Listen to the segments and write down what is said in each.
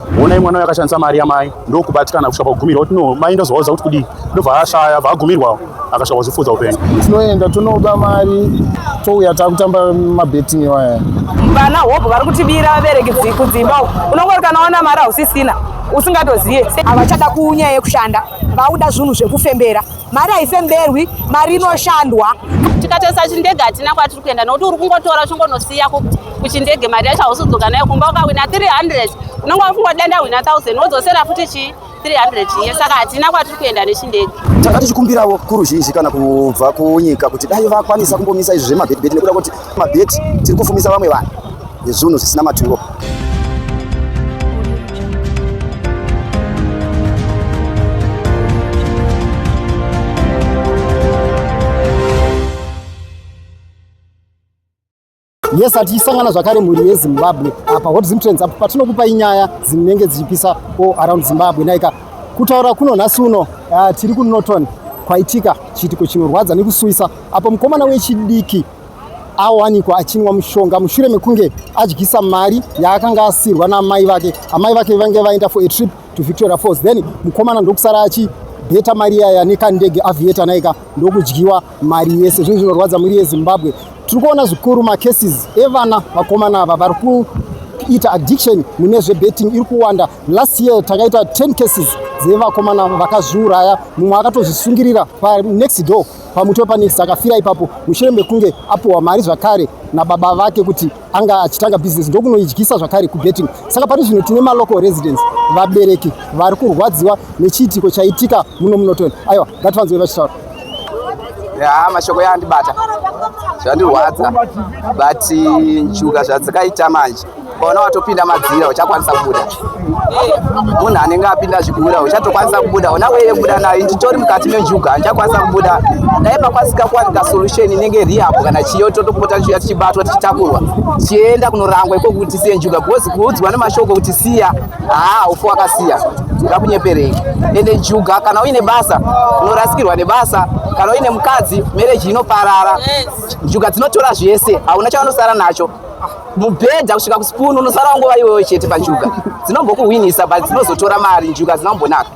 Honai mwana uyo akashandisa mari yamai ndokubatikana kusvika pakugumirwa kuti no mai ndozovaudza kuti kudii ndobva ashaya bva agumirwa akasvika kuzvifudza upenyu tinoenda tonoba mari touya takutamba mabetting iwaya vana hope vari kutibira vabereki kudzimba uku unongori kana waona mari hausisina usingatozive havachada kunyaya yekushanda vauda zvinhu zvekufembera Mari haifemberwi, mari inoshandwa. Tikatarisa chindege hatina kwatiri kuenda nokuti uri kungotora uchingonosiya kuchindege mari yacho hausudzoka nayo kumba ukawina 300 unenge wakungoda ndahwina 1000 wodzosera futi chii 300 iye saka hatina kwatiri kuenda nechindege tanga tichikumbirawo kuruzhinji kana kubva kunyika kuti dai vakwanisa kumbomisa izvi zvemabhedibhedi nekuda kuti Mabheti tiri kufumisa vamwe vanhu nezvunhu zvisina maturo. yes hatichisangana zvakare mhuri yezimbabwe apa hot zim trends apo patinokupa inyaya dzinenge dzichipisa o around zimbabwe naika kutaura kuno nhasi uno uh, tiri kunoton kwaitika chiitiko chinorwadza nekusuwisa apo mukomana wechidiki awanikwa achinwa mushonga mushure mekunge adyisa mari yaakanga asirwa naamai vake amai vake vange vaenda for a trip to victoria falls then mukomana ndokusara achi beta mari yaya nekandege avieta naika ndokudyiwa mari yese zvinhu zvinorwadza mhuri yezimbabwe tiri kuona zvikuru macases evana vakomana ava vari kuita addiction mune zvebetting iri kuwanda last year takaita 10 cases dzevakomana vakazviuraya mumwe akatozvisungirira panext door pamutwe panext akafira ipapo mushure mekunge apuhwa mari zvakare nababa vake kuti anga achitanga business ndokunoidyisa zvakare kubetting saka pari zvino tine malocal residence vabereki vari kurwadziwa nechiitiko chaitika muno munoton aiwa ngativanzwe vachitaura ya mashoko yaandibata zvandirwadza but njuga zvadzakaita manje ukaona watopinda madzira uchakwanisa kubuda munhu anenge apinda zvigura uchatokwanisa kubuda ona weye kubuda nayo nditori mukati menjuga ndichakwanisa kubuda dai pakwanisika kuwanika solution inenge riapo kana chiyo totopota ndichiuya tichibatwa tichitakurwa tichienda kunorangwa ikoku tisiye njuga because kuudzwa nemashoko kuti siya haa ufu wakasiya ngakunyeperei ende njuga kana uine basa unorasikirwa nebasa kana uine mukadzi mereji inoparara njuga dzinotora zvese hauna chavanosara nacho mubhedha kusvika kuspoon unosara nguva iwewe chete panjuga dzinombokuhwinisa but dzinozotora mari njuga dzinombonaka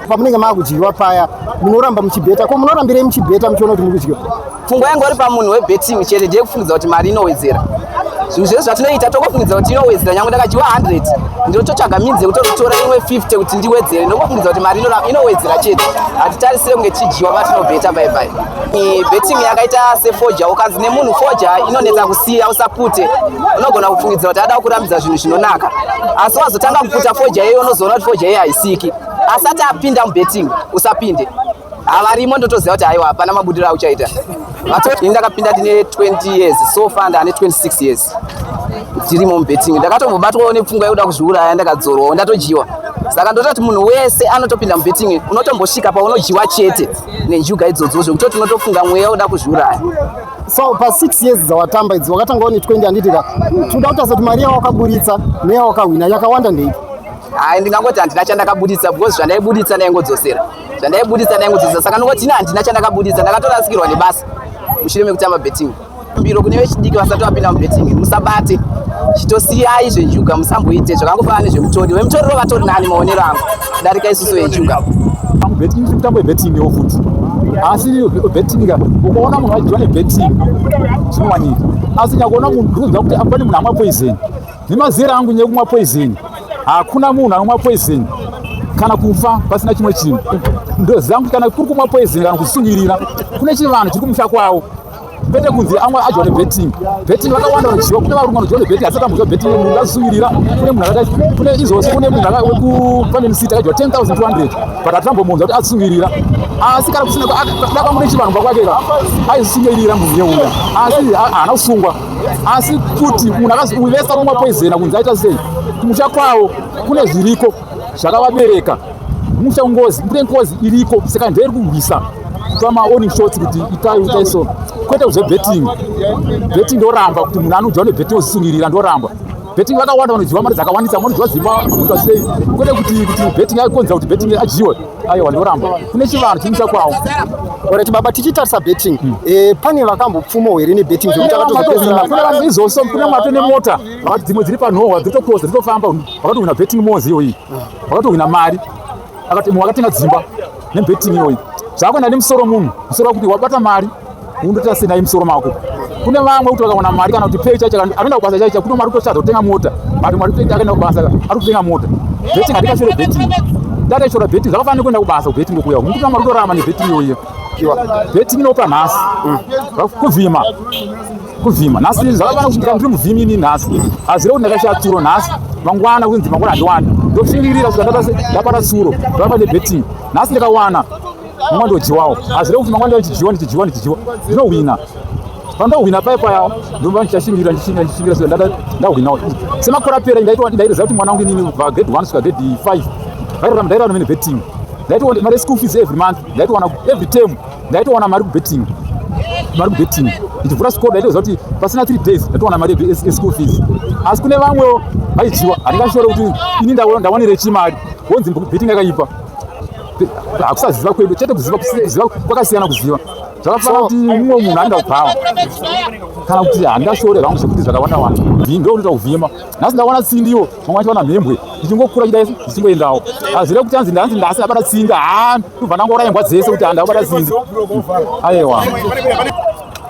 pamunenge maakudyiwa paya munoramba muchibheta ko munorambirei muchibheta muchiona kuti muri kudyiwa pfungwa yange uri pamunhu webetting chete ndiye kufungidza kuti mari inowedzera zvinhu zvese zvatinoita tokofungidza kuti inowedzera nyange ndakadyiwa 100 ndinototsvaga minzi yekuti otora imwe 50 kuti ndiwedzere ndokofungidza kuti mari inowedzera chete hatitarisire kunge tichidyiwa patinobheta bye bye betting yakaita sefoja ukanzi nemunhu foja inonetsa kusiya usapute unogona kufungidzira kuti ada kurambidza zvinhu zvinonaka asi wazotanga kuputa foja iyoyo unozoona kuti foja iyoyo haisiki asati apinda mubetting usapinde havarimo ndotoziva kuti haiwa hapana mabudiro auchaita ini ndakapinda ndine 20 years so far ndaane 26 years tirimo mubetting ndakatombobatwawo nepfungwa yekuda kuzviuraya ndakadzorwawo ndatojyiwa saka ndototi munhu wese anotopinda mubetting unotombosvika paunodyiwa chete nenjuga idzodzo zvekuti tinotofunga mweya uda kuzviuraya so pa six years dzawatamba idzi wakatanga one twenty handitika tinoda kutaza kuti mari yawakaburitsa neyawakahwina yakawanda ndeipi hayi ndingangoti handina chandakabuditsa because zvandaibuditsa ndaingodzosera zvandaibuditsa ndaingodzosera saka ndingoti ini handina chandakabuditsa ndakatorasikirwa nebasa mushure mekutamba betting Biro kune vechidiki vasati vapinda mubetting musabate chitosiyai zvenjuga musamboite zvakangofanana nezvemutori vemutoriro vatori nani maonero angu kudarika isusu vejuga betting si mitambo yebetting yo futi asi betting ka ukaona munhu achidiwa nebetting zvinowanika asi nyakuona munhu ndikuziva kuti apane munhu amwa poison nemazera angu nyaya kumwa poison hakuna munhu anomwa poison kana kufa pasina chimwe chinhu ndoziva kuti kana kuri kumwa poison kana kusungirira kune chivanhu chiri kumusha kwavo kwete kunzi amwe adya nebetting betting vakawanda vanoziva kune varume vanodya nebetting asi akamboziva betting munhu akasuvirira kune munhu akaita kune izvozvo kune munhu wekufaminisiti akadya 10200 but hatinambomuunza kuti asuvirira asi kana kusina dakamune chivanhu pakwake ka aizisuvirira munhu yeuya asi haana kusungwa asi kuti munhu akavesa kumwa poizena kunzi aita sei kumusha kwavo kune zviriko zvakavabereka musha ngozi kune ngozi iriko saka ndiri kurwisa kupa maoni shoti kuti itai itai so kwete kuzve betting betting ndoramba kuti munhu anodya nebetting ozisungirira ndoramba betting vakawanda vanodyiwa mari dzakawandisa vanodyiwa zimba vanodyiwa sei kwete kuti kuti betting yakonzera kuti betting adyiwe aiwa ndoramba kune chivanhu chimusha kwawo orati baba tichitarisa betting hmm. eh, pane vakambopfuma here nebetting zvekuti akatozopesera kune vanhu izvozvo kune mato nemota vakati dzimwe dziri panhohwa dziri toposa dziri tofamba vakatohwina betting mozi iyoyi vakatohwina mari akati mwe wakatenga dzimba nebetting iyoyi zvakuenda nemusoro munhu musoro wakuti wabata mari undoita senai musoro mako kune vamwe kuti vakawana mari kana kuti pei chaicho anoenda kubasa chaicho kuno mari kutoshadza kutenga mota mari mari kutoita akaenda kubasa ari kutenga mota betting handikashore betting data ishora betting zvakafanira kuenda kubasa kubetting kokuya uku ndikuti mari kutorarama nebetting iyoyo betting inopa nhasi mm. kuvhima kuvhima nhasi zvakafana kuti ndiri muvhimi ini nhasi hazire kuti ndakaisha tsuro nhasi mangwana kunzi mangwana handiwani ndotsungirira kuti ndapata tsuro ndoramba nebetting nhasi ndikawana mangwana ndodyiwawo hazire kuti mangwana ndichidyiwa ndichidyiwa ndichidyiwa ndinohwina pandohwina paye paya ndova ndichashingira ndichingira ndichingira so ndahwinawo semakore apera ndaitwa ndairoziva kuti mwana wangu inini kubva grade one kusvika grade five vairarama ndairarama mene betting ndaitwa mari yeschool fees every month ndaitowana every term ndaitowana mari kubetting mari kubetting ndichivhura school ndaitoziva kuti pasina three days ndaitowana mari eschool fees asi kune vamwewo vaidyiwa handingashore kuti ini ndawanire chimari wonzi betting yakaipa hakusaziva kwedu chete kuziva kuziva kwakasiyana kuziva zvakafana kuti mumwe munhu anenge kubhawa kana kuti handingashore vangu zvekuti zvakawanda wanda ndo unoita kuvhima nhasi ndawana tsindiwo vamwe vacho vana mhembwe ndichingokura chida isu ndichingoendawo hazvire kuti anzi ndanzi ndasi ndabata tsindi haa ndobva ndangora imbwa dzese kuti handakubata tsindi ayewa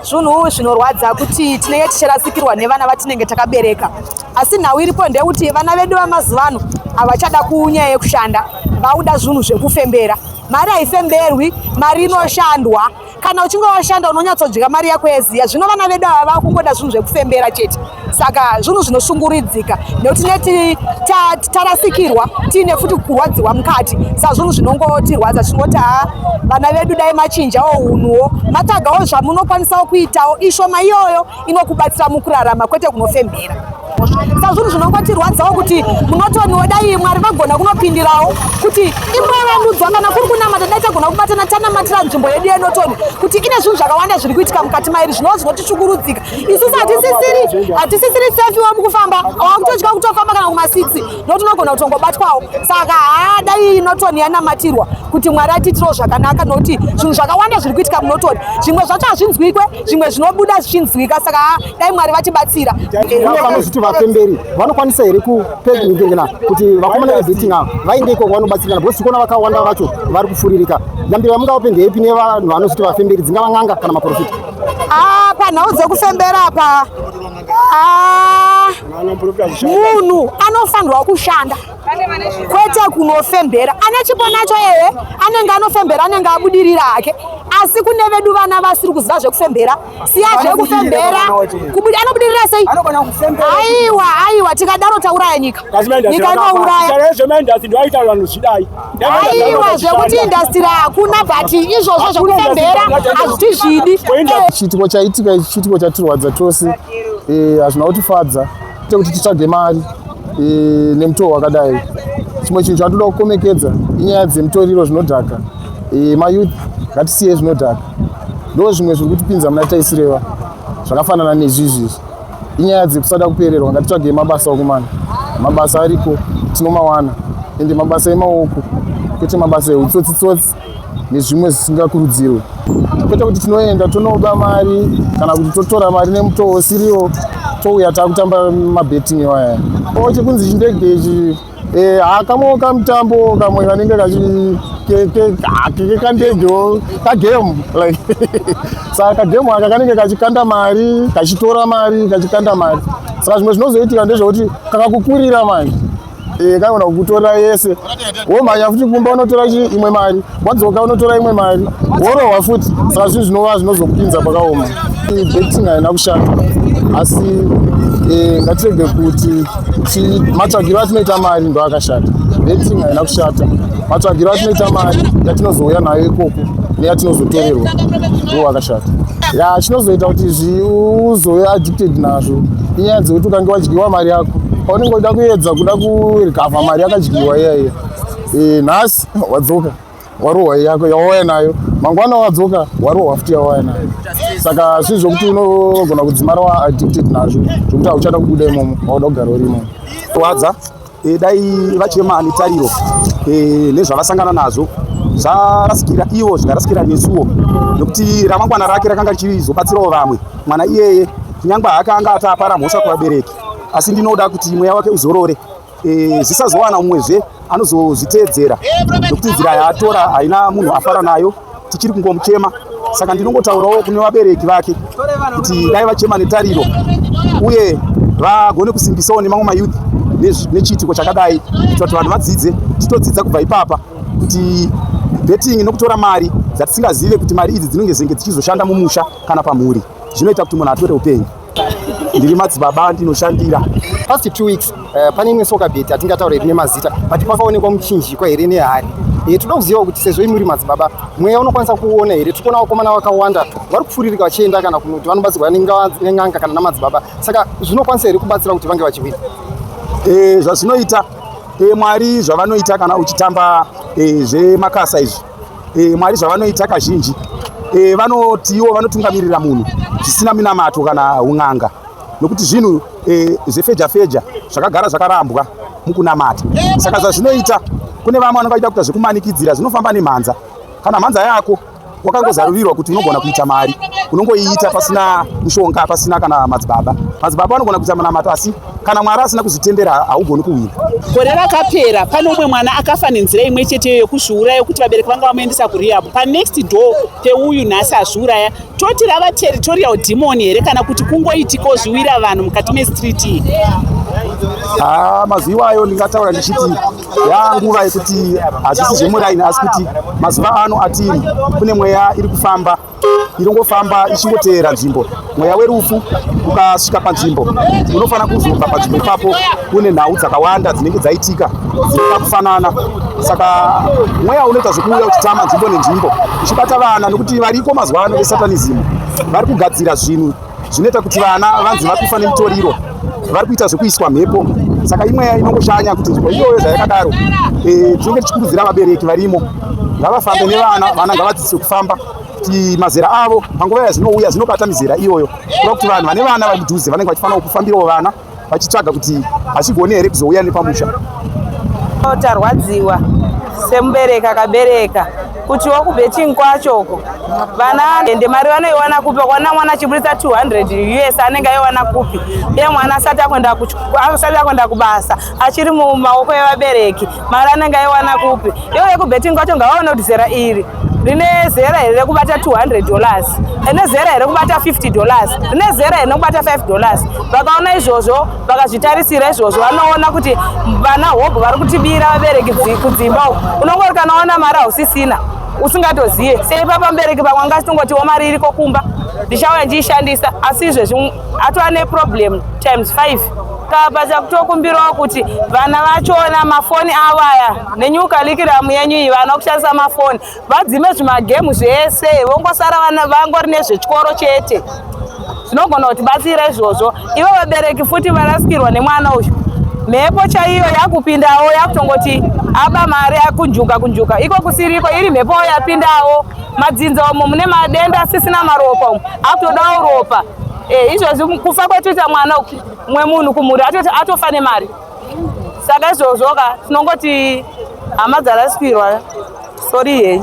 zvunhu zvinorwadza kuti tinenge tichirasikirwa nevana vatinenge takabereka asi nhau iripo ndeyekuti vana vedu vamazuva ano havachada kunyaya yekushanda vauda zvinhu zvekufembera mari haifemberwi mari inoshandwa kana uchinge washanda unonyatsodya mari yako yeziya zvino vana vedu ava vakungoda zvinhu zvekufembera chete saka zvinhu zvinoshunguridzika nekuti neti tarasikirwa tiine futi kurwadziwa mukati sa zvinhu zvinongotirwadza zvingoti ha vana vedu dai machinjawo unhuwo matagawo zvamunokwanisawo kuitawo ishoma iyoyo inokubatsira mukurarama kwete kunofembera sa zvinhu zvinongotirwadzawo kuti munotoniwo dai mwari vagona kunopindirawo kuti imwevandudzwa kana kuri kunamata dai tagona kubatana tanamatira nzvimbo yedu yenotoni kuti ine zvinhu zvakawanda zviri kuitika mukati mairi zvinowo zvinotitsvukurudzika isusu hatisisiri hatisisiri sefiwo mukufamba wakutodya kutofamba kana kuma6 nokuti unogona kutongobatwawo saka haa dai inotoni yanamatirwa kuti mwari atiitirawo zvakanaka nokuti zvinhu zvakawanda zviri kuitika munotoni zvimwe zvacho hazvinzwikwe zvimwe zvinobuda zvichinzwika saka dai mwari vatibatsira kune vanozviti vapemberi vanokwanisa here kupengengena kuti vakomana vebeting ava vaende ikoko vanobatsirikana because tikuona vakawanda vacho vari kufuririka yambiro yamungaope ndeepi nevanhu vanozviti vapemberi dzingava n'anga kana maprofita ah, panhau dzekufembera apa ah, munhu anofanirwa kushanda kwete kunofembera ane chipo nacho eye anenge anofembera anenge abudirira hake asi kune vedu vana vasiri kuziva zvekufembera siya zvekufembera anobudirira sei aiwa aiwa tikadaro tauraya nyika nyika inouraya aiwa zvekuti indastiri hakuna but izvozvo zvekufembera hazviti zvidi chiitiko chaitika ichi chiitiko chatirwadza tose eh, hazvina kutifadza tekuti titsvage mari eh, nemutoo wakadai chimwe chinhu chatoda kukomekedza inyaya dzemutoriro zvinodhaka eh, mayouth ngatisiye zvinodhaka ndo zvimwe zviri kutipinza muna taisireva zvakafanana nezvizvizvi inyaya dzekusada kupererwa ngatitsvage mabasa okumana mabasa ariko tinomawana ende mabasa emaoko kwete mabasa eutsotsi tsotsi nezvimwe zvisingakurudzirwe kwete kuti tinoenda tonoba mari kana kuti totora mari nemutoo usiriwo touya takutamba mabetting iwaya o chekunzi chindege ichi eh, hakamwewo kamutambo kamwe kanenge kakekandegeo kagame like saka kagame aka kanenge kachikanda mari kachitora mari kachikanda mari saka zvimwe zvinozoitika ndezvekuti kakakukurira manje Eh, kaona kukutora yese womhanya futi kumba unotora imwe mari wadzoka unotora imwe mari worohwa futi saka zvinhu zvinova zvinozokupinza pakaoma betting haina kushanda asi eh, ngatirege kuti matsvagiro atinoita mari ndo akashata betting haina kushata matsvagiro atinoita mari yatinozouya nayo ikoko neyatinozotorerwa ndo akashata ya chinozoita kuti zviuzoya addicted nazvo inyaya dzekuti ukange wadyiwa mari yako paunenge uda kuedza kuda kuregavha mari yakadyiwa iya iya eh, nhasi wadzoka warohwa yako yawauya nayo mangwana wadzoka warohwa futi yawauya nayo saka zvinhu zvokuti unogona kudzimara waaddicted nazvo zvokuti hauchada kubuda imomo wauda kugara uri imomo wadza E, dai vachema netariro e, nezvavasangana nazvo zvarasikira ivo zvikarasikira nesuwo nokuti ramangwana rake rakanga richizobatsirawo vamwe mwana iyeye kunyangwe haakanga ataapara mhosva kuvabereki asi ndinoda kuti mweya wake uzorore e, zvisazowana umwezve anozozviteedzera nokuti nzira yaatora haina munhu afara nayo tichiri kungomuchema saka ndinongotaurawo kune vabereki vake kuti dai vachema netariro uye vagone kusimbisawo nemamwe mayouth nechiitiko chakadai kuitira kuti vanhu vadzidze titodzidza kubva ipapa kuti betting nokutora mari dzatisingazive kuti mari idzi dzinenge dzenge dzichizoshanda mumusha kana pamhuri zvinoita kuti munhu atore upenyu ndiri madzibaba andinoshandira past two weeks uh, pane imwe soka bet atingataura iri nemazita but pakaonekwa muchinjikwa here nehari e, toda kuziva kuti sezvo imuri madzibaba mweya unokwanisa kuona here tikuona vakomana vakawanda vari kupfuririka vachienda kana kunoti vanobatsirwa nen'anga kana namadzibaba saka zvinokwanisa here kubatsira kuti vange vachihwina e, eh, zvazvinoita e, mwari zvavanoita kana uchitamba e, zvemakasa izvi e, mwari zvavanoita kazhinji e, vanoti ivo vanotungamirira munhu zvisina minamato kana un'anga nokuti zvinhu e, zvefeja feja zvakagara zvakarambwa mukunamata saka zvazvinoita kune vamwe vanenge vachida kuita zvekumanikidzira zvinofamba nemhanza kana mhanza yako wakangozarurirwa kuti unogona kuita mari unongoiita pasina mushonga pasina kana madzibaba madzibaba anogona kuita munamato asi Kana Mwari asina kuzvitendera haugoni kuwina. Gore rakapera pane umwe mwana akafa nenzira imwe cheteyo yokuzviuraya yokuti vabereki vanga vamuendesa kurehab. Panext door peuyu nhasi azviuraya. Toti rava territorial demon here kana kuti kungoitika ozviwira vanhu mukati mestreet iyi? Ah, mazuva iwayo ndingataura ndichiti yaa nguva yekuti hazvisi zvemuraini asi kuti mazuva ano atiri kune mweya iri kufamba inongofamba ichingoteera nzvimbo mweya werufu ukasvika panzvimbo unofanira kuzobva panzvimbo ipapo une nhau dzakawanda dzinenge dzaitika dzinoda kufanana saka mweya unoita zvekuuya uchitama nzvimbo nenzvimbo uchibata vana nokuti variko mazuva ano vesatanism vari kugadzira zvinhu zvinoita kuti vana vanzi vakufa nemutoriro vari kuita zvekuiswa mhepo saka imweya inongoshanya kuti nzvimbo iyoyo zvayakadaro eh, tinenge tichikurudzira vabereki varimo ngavafambe nevana vana ngavadzidziswe kufamba kuti mazera avo panguva yazvinouya zvinobata mizera iyoyo kuda kuti vanhu vane vana vari mudhuze vanenge vachifanira kufambirawo vana vachitsvaga kuti hachigone here kuzouya nepamusha tarwadziwa semubereki akabereka kuti wakubheting kwacho uko vana ende mari vanoiwana kupi vakaona mwana achiburitsa 200 us anenge aiwana kupi ye mwana asati akuenda kubasa achiri mumaoko evabereki mari anenge aiwana kupi iyo yekubetting kwacho ngavaone kuti zera iri rine zera here rekubata 200 dollars rine zera here rekubata 50 dollars rine zera here rekubata 5 dollars vakaona izvozvo vakazvitarisira izvozvo vanoona kuti vana hobho vari kutibira vabereki kudzimba uku unongori kana waona mari hausisina usingatozive seipapa mubereki pamwe angasitongoti wo mari iriko kumba ndichauya ndiishandisa asi izvezvi atova neproblem times five kabaza kutokumbirawo kuti vana vachona mafoni avo aya nenyukalikiramu yenyu iyi vana kushandisa mafoni vadzime zvimagemu zvese vongosara vana vangori nezvechikoro chete zvinogona kuti batsira izvozvo ivo vabereki futi varasikirwa nemwana uyu mhepo chaiyo yakupindawo yakutongoti aba mari akunjuka kunjuka iko kusiriko iri mhepo yapindawo Madzinza umo mune madenda asisina maropa umo akutodawo ropa eh, izvozvi kufa kwatoita mwana umwe munhu kumhuri atofa nemari saka izvozvoka tinongoti hama dzarasikirwa sori yei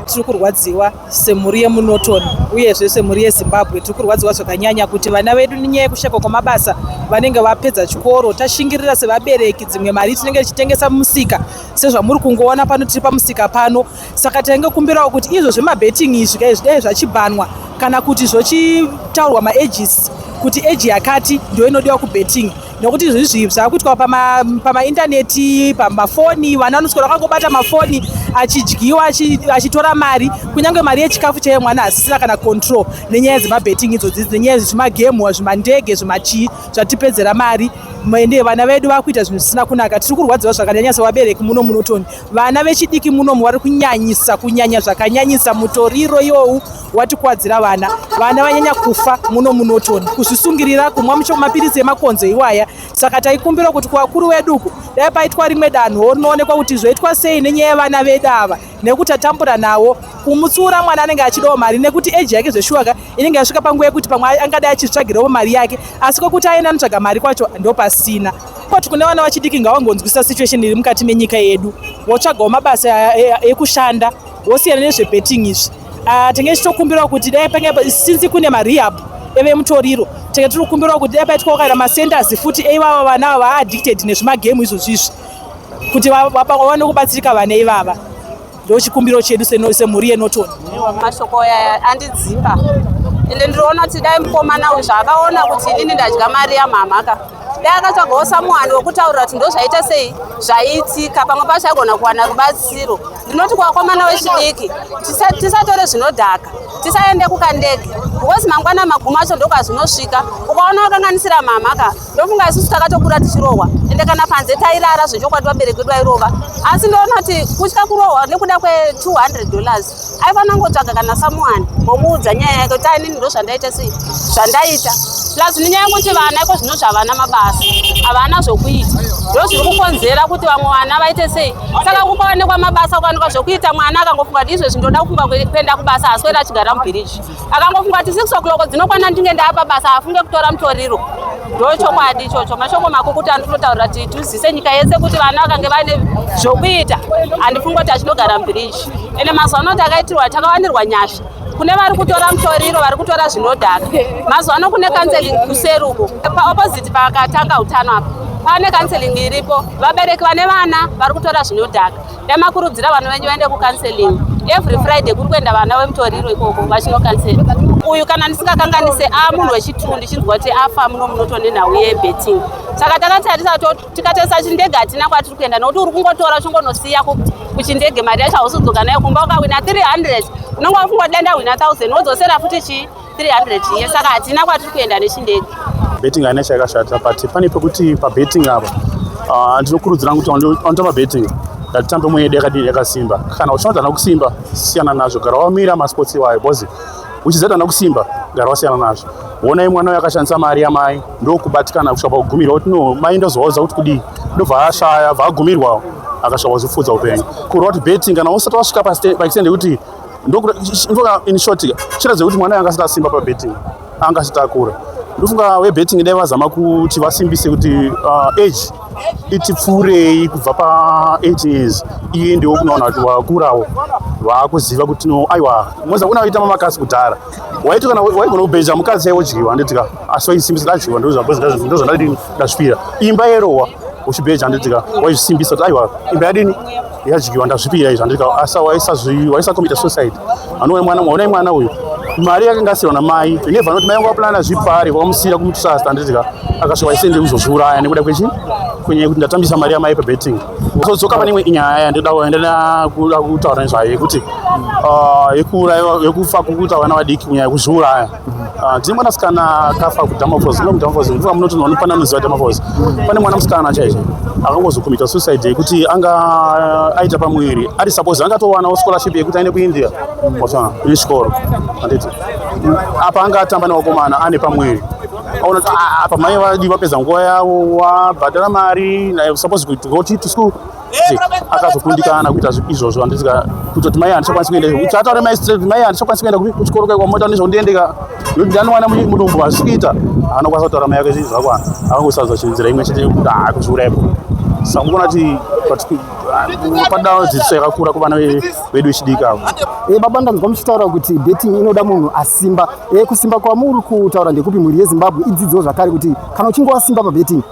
tiri kurwadziwa semhuri yemunotoni uyezve semhuri yezimbabwe tiri kurwadziwa zvakanyanya kuti vana vedu nenyaya yekushayikwa kwemabasa vanenge vapedza chikoro tashingirira sevabereki dzimwe mari tinenge tichitengesa mumusika sezvamuri kungoona pano tiri pamusika pano saka taingokumbirawo kuti izvo zvemabetting izvi kai zvidai zvachibhanwa kana kuti zvochitaurwa maages kuti age yakati ndo inodiwa kubetting nokuti izvi izvi zvakuitwa pamaintaneti pama pamafoni vana vanoswera vakangobata mafoni achidyiwa achitora mari kunyange mari yechikafu chaiye mwana asisina kana control nenyaya dzemabetting idzodzi nenyaya dzezvimagemu zvimandege zvimachii zvatipedzera mari ende vana vedu vakuita zvinhu zvisina kunaka tiri kurwadziwa zvakanyanya sevabereki muno munotoni Vana vechidiki munomu vari kunyanyisa kunyanya zvakanyanyisa mutoriro iwowu watikwadzira vana vana vanyanya kufa muno munotoni kuzvisungirira kumwa mucho mapiritsi emakonzo iwaya saka taikumbira kuti kuvakuru vedu uku dai paitwa rimwe danho rinoonekwa kuti zvoitwa sei nenyaya yevana vedu ava nekuti tatambura nawo kumutsiura mwana anenge achidawo mari nekuti eji yake zveshuwaka inenge yasvika panguva yekuti pamwe angadai achitsvagirawo mari yake asi kwekuti aenda anotsvaga mari kwacho ndopasina But kune vana vachidiki ngavangonzwisisa situation iri mukati menyika yedu votsvagawo mabasa ekushanda vosiyana nezvebetting izvi ah, tenge tichitokumbirawo kuti dai pange since kune marehab evemutoriro tenge tiri kukumbirawo kuti dai paitwawo kana macenters futi eivava vana ava vaaddicted nezvimagame izvozvizvi kuti vawane kubatsirika vana ivava ndochikumbiro chedu semhuri yenotoni mashoko aya andidzimba ende ndinoona kuti dai mukomana uyu zvaakaona kuti inini ndadya mari yamhamhaka dai akatsvagawo samuhani wekutaurira kuti ndozvaita sei zvaiitika pamwe pacho aigona kuwana rubatsiro ndinoti kuvakomana wechidiki tisatore zvinodhaka tisaende kukandege because mangwana maguma acho ndokazvinosvika ukaona wakanganisira mhamhaka ndofunga isusu takatokura tichirohwa ende kana panze tairara zvechokwadi vabereki vedu vairova asi ndoona kuti kutya kurohwa nekuda kwe200 dollars aifanira ngotsvaga kana samuani ngomuudza nyaya yake kuti ainini ndo zvandaita sei zvandaita plus nenyaya yekuti vana iko zvino zvavana mabasa havana zvokuita ndo zviri kukonzera kuti vamwe vana vaite sei saka kukaonekwa mabasa kukaonekwa zvokuita mwana akangofunga kuti izvezvi ndoda kufunga kuenda kubasa haswera achigara mubhiriji akangofunga kuti six o'clock dzinokwana ndinge ndaapa basa hafunge kutora mutoriro ndo chokwadi ichocho mashoko makukuti andinotaurira kuti tizise nyika yese kuti vana vakange vaine zvokuita handifungi kuti achinogara mubhiriji ende mazuva ano takaitirwa takawanirwa nyasha kune vari kutora mutoriro vari kutora zvinodhaka mazuva ano kune kanseling kuseri uko paopposite pakatanga utano apa pane kanseling iripo vabereki vane vana vari kutora zvinodhaka Dai makurudzira vanhu venyu vaende kucounseling. Every Friday kuri kuenda vana vemutoriro ikoko vachinocancela. Uyu kana ndisingakanganise a ah, munhu wechitunhu ndichinzwa kuti afa muno munotone nhau yebetting. Saka takatarisa tikatarisa chindege hatina kwatiri kuenda nokuti uri kungotora uchingonosiya kuchindege mari yacho hausudzoka nayo kumba ukawina 300 unonge wafunga kuti dai ndahwina 1000 wodzosera futi chii 300 iye saka hatina kwatiri kuenda nechindege betting haina chayakashata but pane pekuti pabetting apa ah, ndinokurudzira kuti anoita pabetting ngatitambe mwe yedu yakadini yakasimba kana uchinoti ana kusimba siyana nazvo gara wamira masports iwayo bcause uchizati ana kusimba gara wasiyana nazvo wonai mwana uyo akashandisa mari yamai ndokubatikana kusvika pakugumirwa kuti no mai ndozovauza kuti kudii ndobva ashaya bva agumirwawo akasvika kuzvifudza upenyu kurwa kuti betting kana usati wasvika paextend yekuti ndokutoka in short chira zvekuti mwana yanga asikasimba pabetting anga asitakura ndofunga webetting dai vazama kuti vasimbise kuti uh, age itipfuurei kubva pa8 years iye ndiwo kunoona kuti wakurawo waakuziva kuti no aiwa moza kuna waita mamakasi kudhara waiti kana waigona kubeja mukadzi yaiwodyiwa anditika asi waisimbisa dadyiwa ndozvandadini ndazvipira imba yerowa uchibeja anditika waisimbisa kuti aiwa imba yadini yadyiwa ndazvipira izvo andika asa waisazvi waisakomita suicide anouya mwana mwaonai mwana uyu mari yakanga asiwa namai neva anoti mai yangu aplana zvipari kwamusira kumutusasta anditika akasvika waisende kuzozviuraya nekuda kwechi kwenye kuti ndatambisa mari yamai pabetting zodzoka pane imwe inyaya yandida kuendana kuda kutaura nezvayo yekuti ah, yekuuraya yekufa kukuita vana vadiki kunyaya kuzviuraya Ah, tine mwana musikana akafa kudamafos no mudamafos mvuka munoti nonopana noziva damafos pane mwana musikana chaicho akangozokumita suicide yekuti anga eh, aita pamuviri ari suppose angatowanawo scholarship yekuti aine kuindia osana ine chikoro anditi apa anga atamba nevakomana ane pamuviri aona kuti ah, apa mai vadi vapedza nguva yavo wabhadhara mari naye suppose kuti go to school akazokundikana kuita izvozvo handisika kutoti mai handichakwanisi kuenda kuti ataure mai straight mai handichakwanisi kuenda kuchikoro kai kwamota nezvondiendeka nokuti ndanowana mudumbu hazvikuita anokwanisa kutaura mai yake zvinhu zvakwana akangosaza chinzira imwe chete yekuti haa kuzviuraya ipo saka mukuona kuti padao dzidziso yakakura kuvana vedu vechidiki avo e, baba ndanzwa muchitaura kuti betting inoda munhu asimba e, kusimba kwamuri kutaura ndekupi mhuri yezimbabwe idzidziwo zvakare kuti kana uchinge wasimba pabetting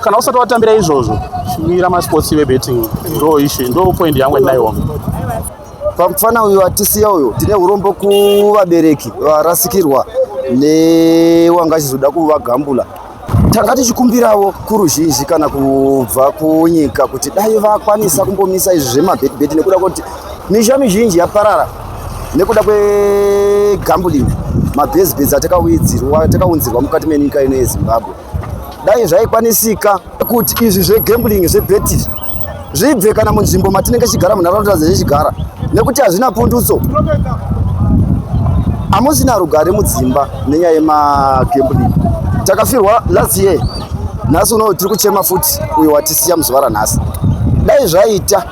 kana usati watambira izvozvo mira masports vebetting ndo ishu ndo point yangu ndinaiwo pamufana uyu atisiya uyu tine urombo kuvabereki varasikirwa newanga achizoda kuvagambula tanga tichikumbirawo kuruzhinji kana kubva kunyika kuti dai vakwanisa kumbomisa izvi zvemabetibeti nekuda kwekuti misha mizhinji yaparara nekuda kwegambulin mabhezibhezi atakaunzirwa mukati menyika ino yezimbabwe Dai zvaikwanisika kuti izvi zvegambling zvebeti zvibve kana munzvimbo matinenge chigara munharaunda dzechigara nekuti hazvina pundutso hamusina rugare mudzimba nenyaya yemagambling takafirwa last year nhasi uno tiri kuchema futi uyo watisiya muzuva ranhasi dai zvaita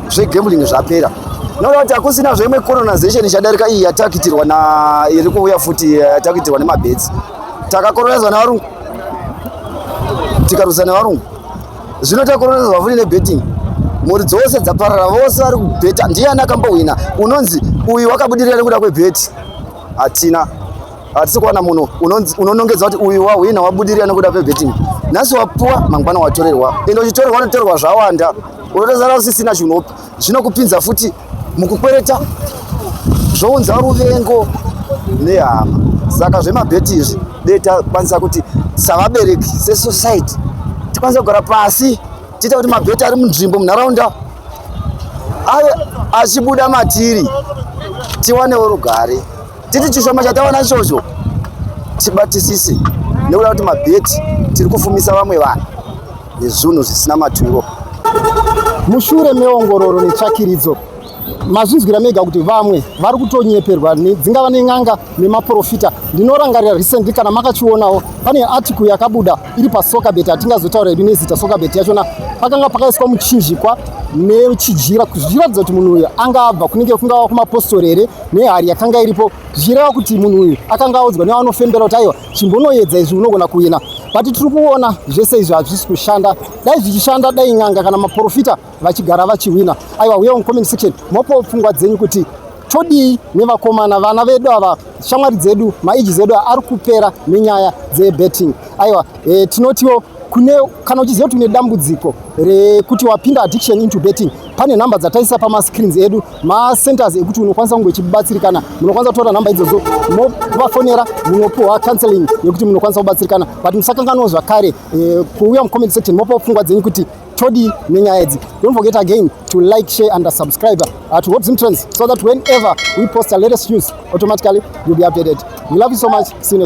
zvegambling zvapera noda kuti hakusina zveimwe colonization ichadarika iyi yatakitirwa na iri kuuya futi yatakitirwa nemabetsi takakororedzwa nevarungu tikarwisa nevarungu zvino takororedzwa futi nebetting mhuri dzose dzaparara vose vari kubheta ndiyani akambohwina unonzi uyu wakabudirira nekuda kwebheti hatina hatisi kuwana munhu unonongedza kuti uyu wahwina wabudirira nekuda kwebetting nhasi wapuwa mangwana watorerwa ende uchitorerwa unotorerwa zvawanda unotozara usisina chinopi zvinokupinza futi mukukwereta zvounza ruvengo nehama saka zvemabheti izvi dei takwanisa kuti savabereki sesociety tikwanisa kugara pasi tiita kuti mabheti ari munzvimbo munharaunda ave achibuda matiri tiwanewo rugare titi chishoma chatawana ichocho tibatisise nekuda kuti mabheti tiri kufumisa vamwe vanhu nezvunhu zvisina maturo mushure meongororo netsvakiridzo mazvinzwira mega kuti vamwe vari kutonyeperwa dzingava nen'anga nemaprofita ndinorangarira recently kana makachionawo pane article yakabuda iri pasocabet hatingazotaura yedu nezita socabet yachona pakanga pakaiswa muchinjikwa nechijira zvichiratidza kuti munhu uyo anga abva kunenge kungava kumapostori here nehari yakanga iripo zvichireva kuti munhu uyu akanga audzwa nevanofembera kuti aiwa chimbonoyedza izvi unogona kuina vati tiri kuona zvese izvi hazvisi kushanda dai zvichishanda dai n'anga kana maprofita vachigara vachihwina aiwa huya mucomment section mopawo pfungwa dzenyu kuti todii nevakomana vana vedu ava shamwari dzedu maiji zedu ari kupera nenyaya dzebetting aiwa e, tinotiwo kune kana uchiziva kuti une dambudziko rekuti wapinda addiction into betting pane nhamba dzataisa pamascreens edu macenters ekuti unokwanisa kunge uchibatsirikana munokwanisa kutora nhamba idzodzo movafonera munopiwa counseling yekuti munokwanisa kubatsirikana but musakanganwa zvakare eh, kuuya mucomment section mopawo pfungwa dzenyu kuti todii nenyaya idzi don't forget again to like share and subscribe uh, to hot zimtrends so that whenever we post a latest news automatically you'll be updated we love you so much see you next